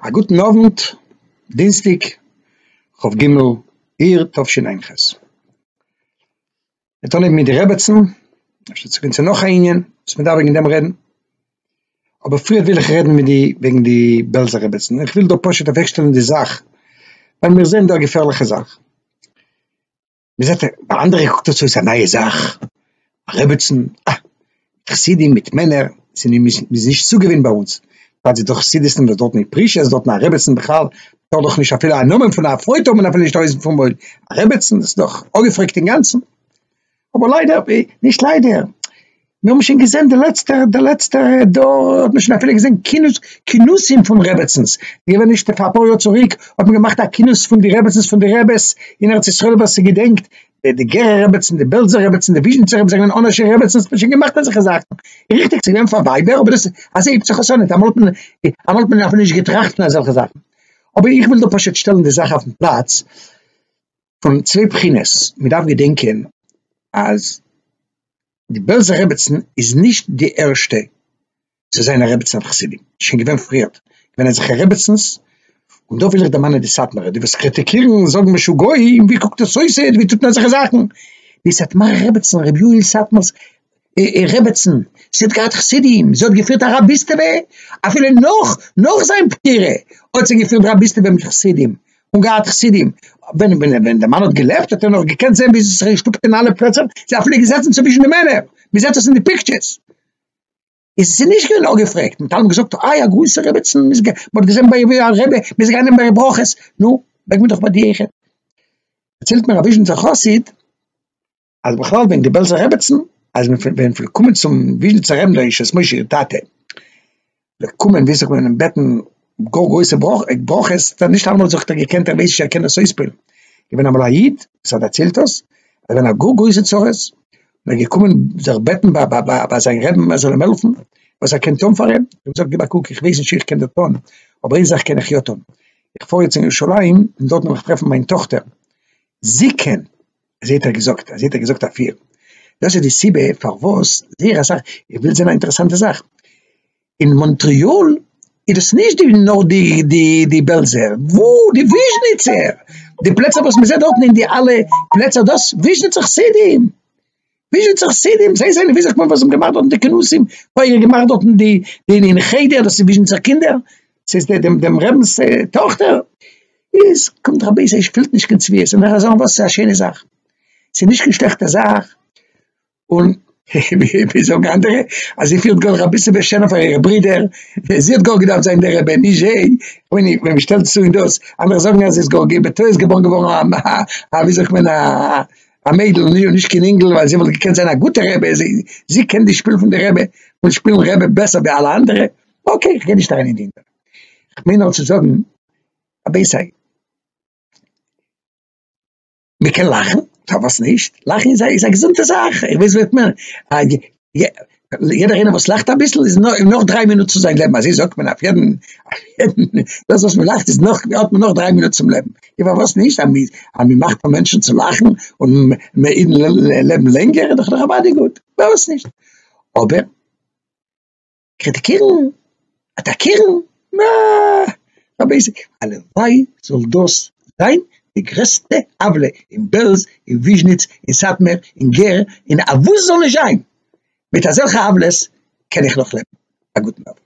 א גוטן אוונט, דינסטיג כ ג אייר תשפ ג. מיר טון אויב מיט די רעבעצן, אפשר צו גיין צו נאך א ענין וואס מען דארף וועגן דעם רעדן, אבער פריער וויל איך רעדן מיט די וועגן די בעלזע רעבעצן, איך וויל דא פשוט אוועקשטעלן די זאך, ווייל מיר זעען דא א געפערליכע זאך. מען זעט ביי אנדערע קוקט עס אויס א נייע זאך, א רעבעצן, אה, חסידים מיט מענער, ס'איז נישט צו געוווינט ביי אונז, פאר די דאך חסידות'ן וואס דארטן איז פריש, עס דארטן א רעבעצן בכלל, טאר דאך נישט אפילו א נאמען פון א פרוי טאר מען אפילו נישט אויס פארמויל, א רעבעצן, דאס איז דאך אפגעפרעגט אינגאנצן, אבער ליידער, נישט ליידער. מיר האבן שוין געזען די לעצטע די לעצטע דור האט מען שוין אפילו געזען כינוס כינוסים פון רעבעצנס געווען נישט פאר אפאר יאר צוריק האט מען געמאכט א כינוס פון די רעבעצנס פון די רעבעס אין ארץ ישראל ווער ס'געדענקט די גערער רעבעצן די בעלזער רעבעצן די וויזשניצער רעבעצן זענען אנ ש רעבעצנס מען שוין געמאכט אזעלכע זאכן ריכטיג ס'געווען פאר ווייבער אבער דאס אזוי הייבט זיך עס אן אמאל האט מען אמאל האט מען אפילו נישט געטראכט פון אזעלכע זאכן אבער איך וויל דא פשוט שטעלן די זאך אויפן פלאץ. פון צוויי בחינות, מען דארף געדענקען אז די בעלזער רעבעצן איז נישט די ערשטע צו זיין א רעבעצן אויף חסידים, עס איז שוין געווען פריערט, עס זענען אזעלכע רעבעצנס, און דא וויל איך דערמאנען די סאטמארע, די וואס קריטיקירן זאגן משוגעים, ווי קוקט עס אויס היינט, ווי טוט מען אזעלכע זאכן, די סאטמארע רעבעצן ר' יואל סאטמאר'ס איר רעבעצן, זי האט געהאט חסידים, זי האט געפירט א רביסטעווע, אפילו נאך נאך זיין פטירה האט זי געפירט רביסטעווע מיט חסידים, און געהאט חסידים, ווען ווען די מאן האט געלעבט האט ער נאך געקענט זען ווי זי האט זיך געשטופט אין אלע פלעצער, זי האט אפילו געזעצן צווישן די מענער, מען זעט עס אין די פיקטשערס, איז זי נישט געווען אפגעפרעגט, מען האט אלעמאל געזאגט איי א גרויסע רעבעצן, מען האט געזען ביי איר ווי א רבי, מען איז געגאנגען נעמען ביי איר ברכות, נו, מעג מען דאך ביי די איך, דערציילט מיר א וויזשניצער חסיד. אז בכלל ווען די בעלזע רעבעצן אז מען פון ווען פון קומען צום וויזשניצער רעבן דער ישועות משה איר טאטע זאל קומען וויזשניץ קומען אים בעטן גאר גרויסע ברכות האט ער נישט אלעמאל געזאגט ער האט געקענט ער ווייס נישט ער קען דאס אויספירן געווען אמאל א איד וואס ער דערציילט דאס ער געווען א גאר גרויסע צרות און ער געקומען זיך בעטן ביי ביי ביי ביי זיין רעבן ער זאל אים העלפן וואס ער קען טון פאר אים ער האט געזאגט גיב א קוק איך ווייס נישט צו איך קען דא טון אבער איין זאך קען איך יא טון איך פאר יעצט אין ירושלים און דארט וועל איך טרעפן מיין טאכטער זי קען אזוי האט ער געזאגט, אזוי האט ער געזאגט אפיר. דאס איז די סיבה פארוואס זייער אסאך, איך וויל זען א אינטערעסאנטע זאך, אין מאנטריאל איז דאס נישט די נאר די די די בעלזער, וואו די וויזשניצער, די פלעצער וואס מען זעט דארטן אין די אלע פלעצער דאס וויזשניצער חסידים, וויאזוי צו חסידים זיי זענען וויאזוי כ'מיין וואס האבן געמאכט דארטן די כנסים אויך געמאכט דארטן די די אין חדר דאס איז וויזשניצער קינדער ס'איז דער דעם דעם רבינ'ס טאכטער איז קומט רבי זי ע שפילט נישט קיין צביעות און וועל איך זאגן וואס ס'איז א שיינע זאך ס'איז נישט קיין שלעכטע זאך און ווי זאגן אנדערע אז זי פילט גאר אביסל בעשענען פאר אירע ברידער זי האט גאר געדארפט זיין דער רבי נישט זיי און ווען מ'שטעלט עס צו אין דאס אנדערע זאגן אז זי איז גאר בטעות געבוירן געווארן א א א וויאזוי זאגט מען א א מיידל און נישט קיין אינגל ווייל זי וואלט געקענט זיין א גוטע רבי, זי קען די שפיל פון די רבי און שפילן רבי בעסער ווי אלע אנדערע, אקעי איך גיי נישט אריין אין די ענין, איך מיין נאר צו זאגן א בעיסייד, מען קען לאכן, פארוואס נישט, לאכן איז א געזונטע זאך, איך ווייס וואס איך מיין. יעדער איינער וואס לאכט אביסל איז נאך דריי מינוט צו זיין לעבן, אזוי זאגט מען אויף יעדן, דאס וואס מען לאכט איז נאך, האט מען נאך דריי מינוט צום לעבן, און פארוואס נישט, אז מען מאכט פאר מענטשן צו לאכן און מען אידן לעבן לענגער איז דאך נאכאמאל גוט, פארוואס נישט, אבער. קריטיקירן, אטאקירן, נע, באבעסיג, הלוואי זאל דאס זיין די גרעסטע עוולה אין בעלז, אין וויזשניץ, אין סאטמער, אין גער, אין א וואס ס'זאל נישט זיין, מיט אזעלכע עוולות קען איך נאך לעבן, א גוטן אווענט.